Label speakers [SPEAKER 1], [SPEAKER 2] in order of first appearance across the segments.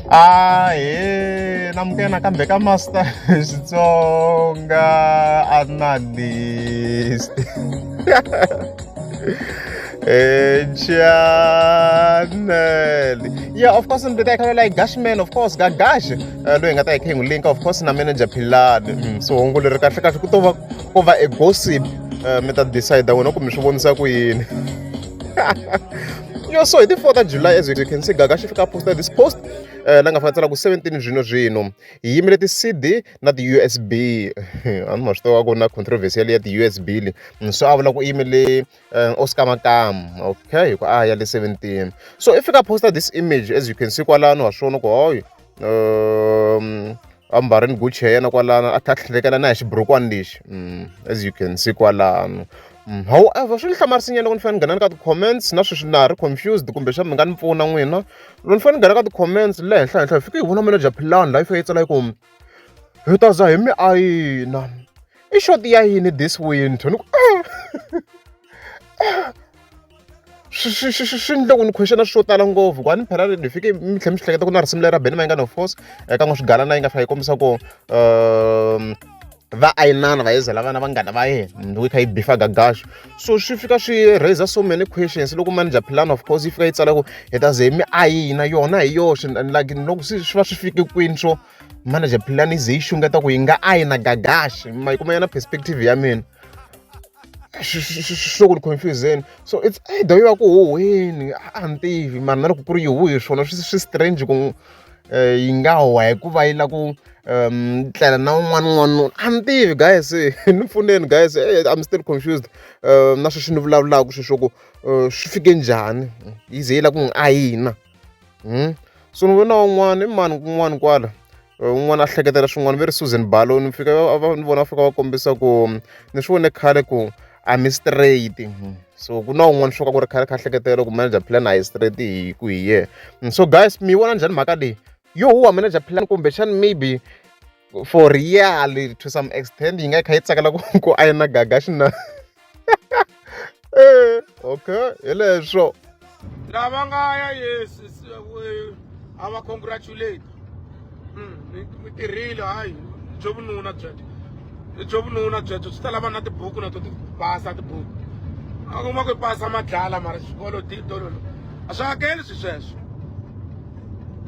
[SPEAKER 1] a he na mukena kambe ka master xitsonga analyst channel yeah of course ndzi ta yi like gash man of course ga gash eh, loyi nga ta yi kha yi link of course na manager philani mm, so hungu leri kahle kahle ku to va ko va a gossip eh, mi ta decide wena kumbe swi vonisa ku yini yo so hi ti 4 ta july as you can see gaga xi fika posta this post eh, la nga fana tsala ku 17 zwino zwino hi yimile ti-cd na ti-usb a ni ma swi tiva ku na controversy yale ya ti-usb le mm, so a vula ku i yimile eh, oscar makam okay hi ku a ya le 17 so i fika posta this image as you can see kwalano wa swona ku hoyo um a mbarini guchi ya yena kwalano a tlha tlhelekela na hi xiburukwani lexi mm, as you can see kwalano mm, however swi ni hlamarisinyana loko ni fanele ni nghena ni ka ti-comments na sweswi na ha ri confused kumbe xa mi nga ni pfuna n'wina loko ni fanele ni nghena ka ti-comments le henhla henhla hi fike hi vona melo bya philani laha yi fike yi tsala yi ku hi ta za hi mi ayina i shoti ya yini this winter ni ku ah! swi swi swi swi endle ku ni question swo tala ngopfu ku a ni phela ni fike mi tlhela mi swi hleketa ku na risimu lera beni ma yi nga no force eka n'wi swigalana yi nga fika yi kombisa ku um va ayinana va yezela vana vanghana va yena ndzi yi kha yi bifa gagaxo so swi fika swi raiser so many questions loko manager plan of course yi fika yi tsala ku hi ta ze mi ayina yona hi yoxe like loko swi va swi fike kwini swo manager plan ize yi xungeta ku yi nga a yi na gagaxi ma yi kuma yona perspective ya mina swo ku ni confuseni so it's either yi va ku huhweni a ni tivi mara na loko ku ri yi huhi swona swi strange ku eh, yi nga huha hikuva yi la ku um tlela na un'wana un'wana a ni tivi guys ni pfuneni guys eh, i'm still confused um na sweswi ni vulavulaka sweswo ku eh, swi fike njhani yi ze yi la ku n'wi ayina hmm? so ni vona un'wana i mani kun'wana kwala un'wana a hleketela swin'wana ve ri susan balo ni fika ni vona va fika va kombisa ku ni swi vone khale ku a mi straight hmm. so ku na un'wana swo ka ku ri khale kha hleketela ku manager plan a hi straight hi ku hi ye hmm. so guys mi vona njhani mhaka leyi yo huwa manager plan kumbexani maybe for real to some extent yi nga yi kha yi tsakela ku ku ayina gaga xina eh, okay hi leswo lava
[SPEAKER 2] nga ya yes a va congratulate hmm, mi tirhile hayi byo vununa byebyo byo vununa byebyo swi ta lava na tibuku na to ti pasa tibuku a kuma ku pasa madlala mara xikolo titolo a swi hakeli swi sweswo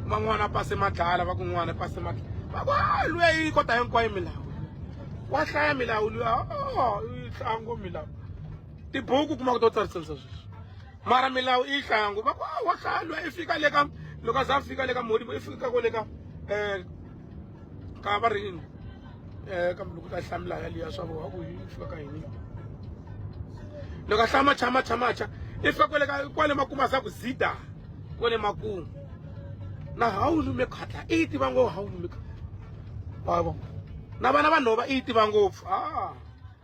[SPEAKER 2] van'wana pase madlala va kun'wana pase madlala va ku a luya yi kota hinkwayo milawu wa hlaya milawu luya o yi hlaya ngo milawu tibuku kuma ku to tsarisanisa sweswi mara milawu i yi hlaya ngo va ku a wa hlaya luya i fika le ka loko a za a fika le ka modibo i fika ko le ka um ka va rini um kambe loko u ta hlamula yaliya swa voha ku yi fika ka yini loko a hlaya macha macha macha i fika kwale ka kwale makumu a za ku zida kwale makumu na hawu lume khatla i yi tiva ngopfu hawu lume khatla wavo na vana vanhova i yi tiva ngopfu a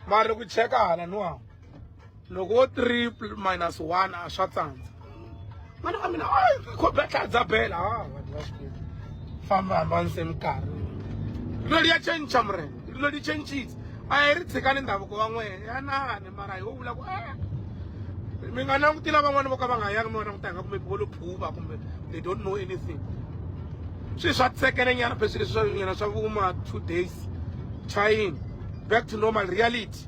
[SPEAKER 2] mara loko yi cheka hala no hawu loko wo triple minus one a swa tsandza mana ka mina khobetlha dza bela ha vanhu va swi famba hamba ni se minkarhi loli ya change murena loli changes a hi ri tshikani ndhavuko wa n'wena ya nani mara hi wo vula ku a mi nga langutila van'wana vo ka va nga yangi mi va languta hi nga kumbe vo lo phuva kumbe they don't know anything swilo swa tsekele nyana pheswi leswi swa nyana swa vuma two days chayini back to normal reality